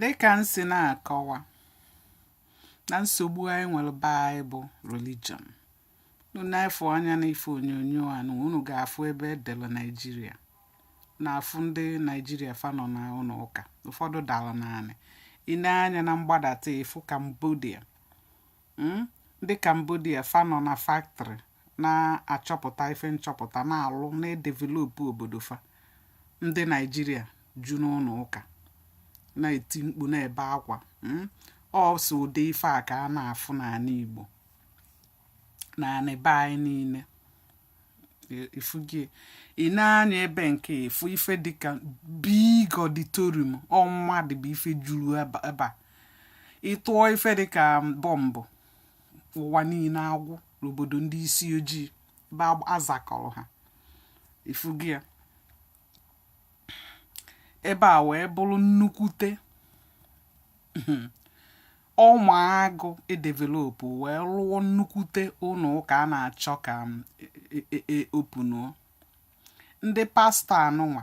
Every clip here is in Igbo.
Dịka m si na-akọwa na nsogbu anyị nwere be anyị bụ religion unu na-efu anya n'ife onyonyo a na unu ga-afụ ebe e dere Naijiria na-afụ ndị Naijiria fa nọ n'ụnọ ụka ụfọdụ dara n'anị ị nee anya na mgbadata ị fụ Cambodia ndị Cambodia fa nọ na factory na-achọpụta ife nchọpụta na-alụ na-edevelop obodo fa ndị Naijiria ju n'ụnọ ụka na-eti mkpu na-ebe akwa mm? ọ sọ ụdị ife a ka a na-afụ n'anị Igbo na be anyị niile ị fụgo ya ị nee anya ebe nke a ị fụ ife dịka big auditorium ọ mmadụ bụ ife juru ebe a ị tụọ ife dịka bọmbụ ụwa niile agwụ n'obodo ndị isi ojii ebe azakọrọ ha ị fụgo ya ebe a wee bụrụ nnukwute ọma agụ e develop wee rụọ nnukwute ụnọ ụka a na-achọ ka openuo ndị pastọ anụnwa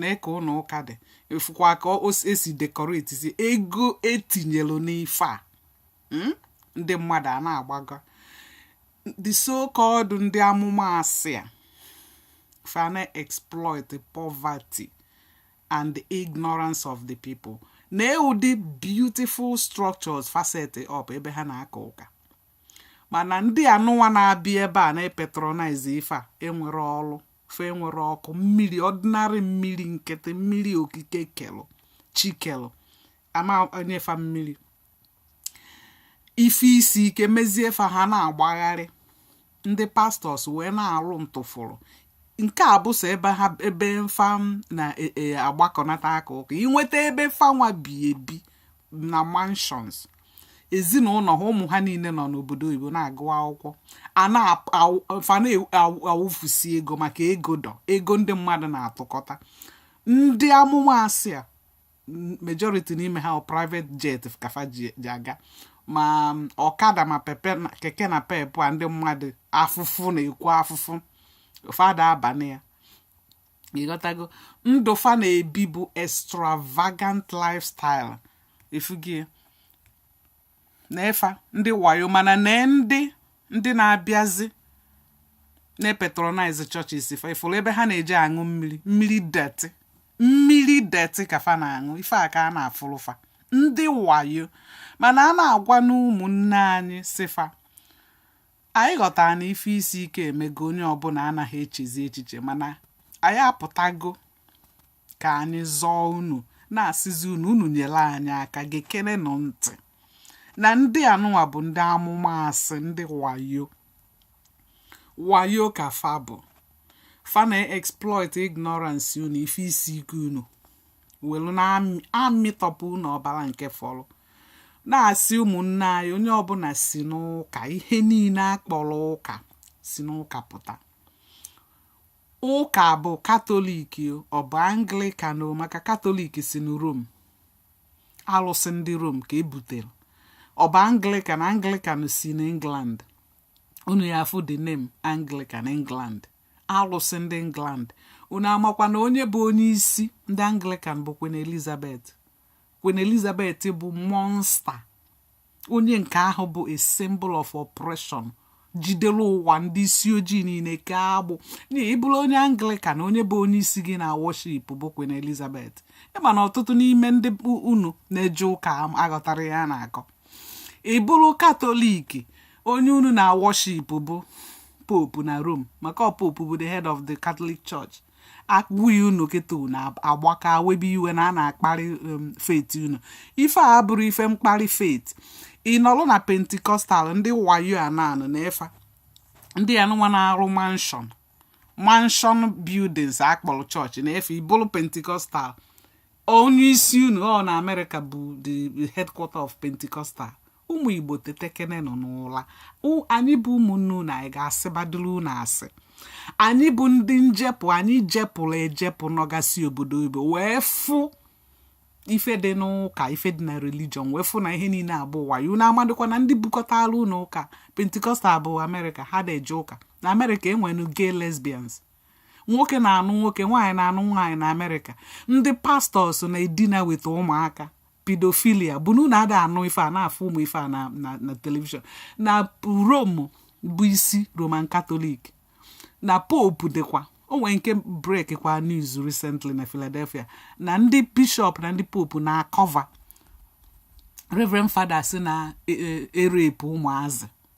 nee ka ụnọ ụka dị ị fụkwa ka e si decoratesi ego e tinyelu n'ife a hmm? ndị mmadụ a na-agbaga the so called ndị amụma asị a fa na-exploit poverty and the ignorance of the people nee ụdị beautiful structures fa set up ebe ha na-aka ụka mana ndị anụnwa na-abịa ebe a na-epatronize ife a enwerọ ọrụ fa enwerọ ọkụ mmiri ordinary mmiri nkịtị mmiri okike kelụ Chi kelụ ama enye fa mmiri ife isi ike mezie fa ha na-agbagharị ndị pastors wee na-arụ ntụfụrụ nke a bụ sọ ebe ha ebe fa na-agbakọnata e, aka ụka ị nweta ebe fa nwa bi ebi na mansions ezinụlọ ha ụmụ ha niile nọ n'obodo oyibo na-agụ akwụkwọ fa na-awụfusi ego maka ego dọ ego ndị mmadụ na-atụkọta ndị amụma asị a majority n'ime ha private jet ka fa ji aga ma ọkada ma pepe keke napep a ndị mmadụ afụfụ na-ekwu afụfụ fa da-aba na ya ị ghọtago ndụ fa na-ebi bụ extravagant lifestyle ị fụgo ya nee fa ndị wayo mana na ndị ndị na-abịazi na-epatronize churches fa ị fụrụ ebe ha na-eje aṅụ mmiri mmiri dirty mmiri dirty ka fa na-aṅụ ife a ka a na-afụrụ fa ndị wayo mana a na-agwa ụmụnne anyị sị fa Anyị ghọtara na ife isi ike emego onye ọbụla anaghị echezi echiche mana anyị apụtago ka anyị zọọ unu na-asịzi unu unu nyere anyị aka gekenenụ ntị na ndị anụnwa bụ ndị amụma asị ndị wayo wayo ka fa bụ fa na-exploit ignorance unu ife isi ike unu welu na-amịtọpụ unu ọbara nke fọrọ na-asị ụmụnne anyị onye ọbụla si n'ụka ihe niile akpọrọ ụka si n'ụka pụta ụka bụ katọlik ọ bụ Anglican maka katọlik si na Rome alụsị ndị Rome ka ebutere ọ bụ Anglican Anglican si na England unu ya afụ the name Anglican England alụsị ndị England unu amakwa na onye bụ onye isi ndị Anglican bụ Queen Elizabeth Queen Elizabeth bụ monster onye nke ahụ bụ a symbol of oppression jidere ụwa ndị isi ojii niile kee agbụ ị bụrụ onye Anglican onye bụ onye isi gị na-worship bụ Queen Elizabeth ị ma na ọtụtụ n'ime ndị unu na-eje ụka aghọtarọ ihe a na-akọ ị bụrụ katọlik onye unu na-aworship bụ pope na Rome maka ọ pope bụ the head of the Catholic Church a gwa unu kịta unu agbaka webe iwe na a na-akparị um, faith unu ife a abụrọ ife mkparị faith ị nọrọ na Pentecostal ndị wayo ananụ na efa ndị anụnwa na-arụ mansion mansion buildings akpọrọ church na-efe ị bụrụ Pentecostal onye isi unu ọ na amerịka bụ the headquarter of Pentecostal ụmụ igbo tetekenenụ n'ụla anyị bụ ụmụnne unu anyị ga-asịbadịrị unu asị anyị bụ ndị njepụ anyị jepụrụ ejepụ nọgasị obodo oyibo wee fụ ife dị n'ụka ife dị na religion wee fụ na ihe niile a bụ wayo unu amadịkwa na ndị bukọtara unu ụka Pentecostal bụ amerịka ha na-eje ụka na amerịka e nwere gay lesbians nwoke na-anụ nwoke nwaanyị na-anụ nwaanyị na amerịka ndị pastors na-edina weta ụmụaka pedophilia bụ na unu ada anụ ife a na-afụ ụmụ ife a na na na telivishọn na Rome bụ isi Roman Catholic na pope dịkwa o nwere nke break kwa news recently na Philadelphia na ndị bishop na ndị pope na-acover Reverend Father si na e- e- erape ụmụazị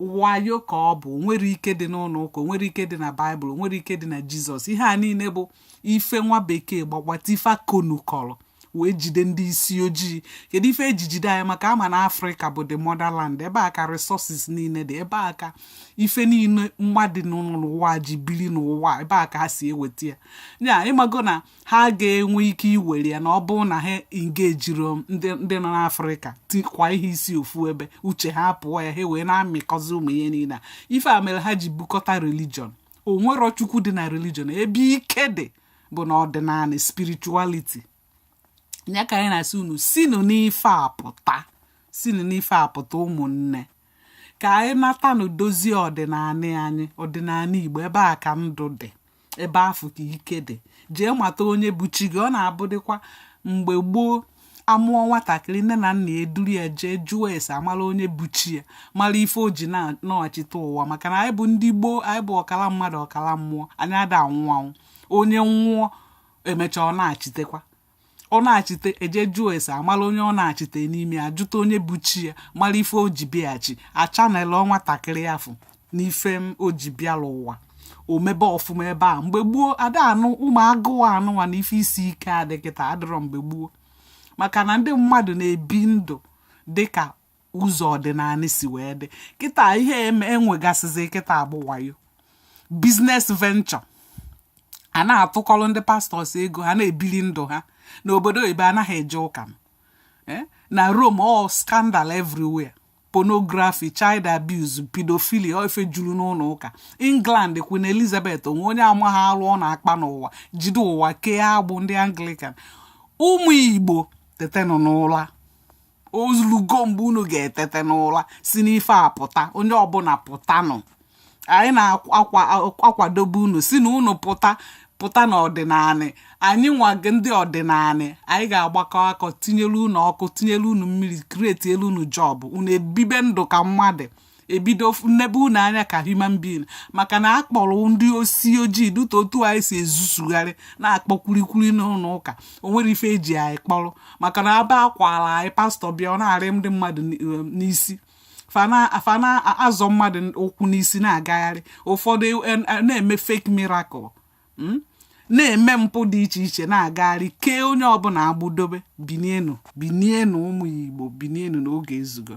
wayo ka ọ bụ o nwerọ ike dị n'ụlọ ụka o nwerọ ike dị na baịbụl o nwerọ ike dị na jizọs ihe a niile bụ ife nwa bekee gbagbata ife akonu kọrọ wee jide ndị isi ojii kedu ife eji jide anyị maka a ma na afrịka bụ the motherland ebe a ka resources niile dị ebe a ka ife niile mmadụ n'ụwa ji biri n'ụwa ebe a ka ha si eweta ya ya ị mago na ha ga-enwe ike iwere ya na ọ bụrụ na ha engejiro ndị nọ n'afrịka tikwa ihe isi ofu ebe uche ha pụọ ya ha wee na-amịkọzi ụmụ ihe niile a ife a mere ha ji bukọta religion o nwero chukwu dị na religion ebe ike dị bụ na ọdịnala spirituality ya ka anyị na-asị unu sinu n'ife a pụta sinu n'ife a pụta ụmụnne ka anyị nata ụnọ dozie ọdịnala anyị ọdịnala igbo ebe a ka ndụ dị ebe afụ ka ike dị jee mata onye bụ chi gị ọ na-abụdịkwa mgbe gboo a mụọ nwatakịrị nne na nna eduru ya jee jụọ ese a mara onye bụ chi ya mara ife o ji nachite ụwa maka na anyị bụ ndị gboo anyị bụ ọkara mmadụ ọkara mmụọ anyị ada anwụ anwụ onye nwụọ e mechaa ọ nachitekwa ọ nachite e je jụọ ese a mala onye ọ nachite n'ime ya jụta onye bụ chi ya mara ife o ji bịaghachi a channel nwatakịrị afụ n'ife o ji bịala ụwa o mebe ọfụma ebe a mgbe gboo ada anụ ụmụ agụụ a nụwa na ife isi ike a dị kịta adịrọ mgbe gboo maka na ndị mmadụ na-ebi ndụ dịka ụzọ ọdịnala si wee dị kịta ihe e nwegasịzi kịta bụ wayo business venture a na-atụkọrọ ndị pastors ego ha na-ebili ndụ ha n'obodo oyibo anaghị eje ụka eh? na Rome all scandal everywhere pornography child abuse pedophilia ife juru n'ụlọ ụka England Queen Elizabeth o nwe onye amaghị alụ ọ na-akpa n'ụwa jide ụwa kee agbụ ndị Anglican ụmụ Igbo tetenụ n'ụla o zulugo mgbe unu ga-etete n'ụla si n'ife a pụta onye ọbụla pụtanụ anyị na-akwadobe unu sị na unu pụta pụta n'ọdịnanị anyị nwa ndị ọdịnanị anyị ga-agbakọ aka tinyelu unu ọkụ tinyelu unu mmiri createlu unu job unu ebibe ndụ ka mmadụ e bido nebe unu anya ka human being maka na a kpọrọ ndị isi ojii dịta otu anyị si ezuzugharị na-akpọ kwurikwuri n'ụlọ ụka o nwere ife e ji anyị kpọrọ maka na aba akwara anyị pastọ bịa ọ na-arị ndị mmadụ um, n'isi fa na-azọ mmadụ ụkwụ n'isi na-agagharị ụfọdụ e, e, na-eme fake miracle hmm? na-eme mpụ dị iche iche na-agagharị kee onye ọbụla agbụ dobe binienu binienu ụmụ igbo binienu na oge ezugo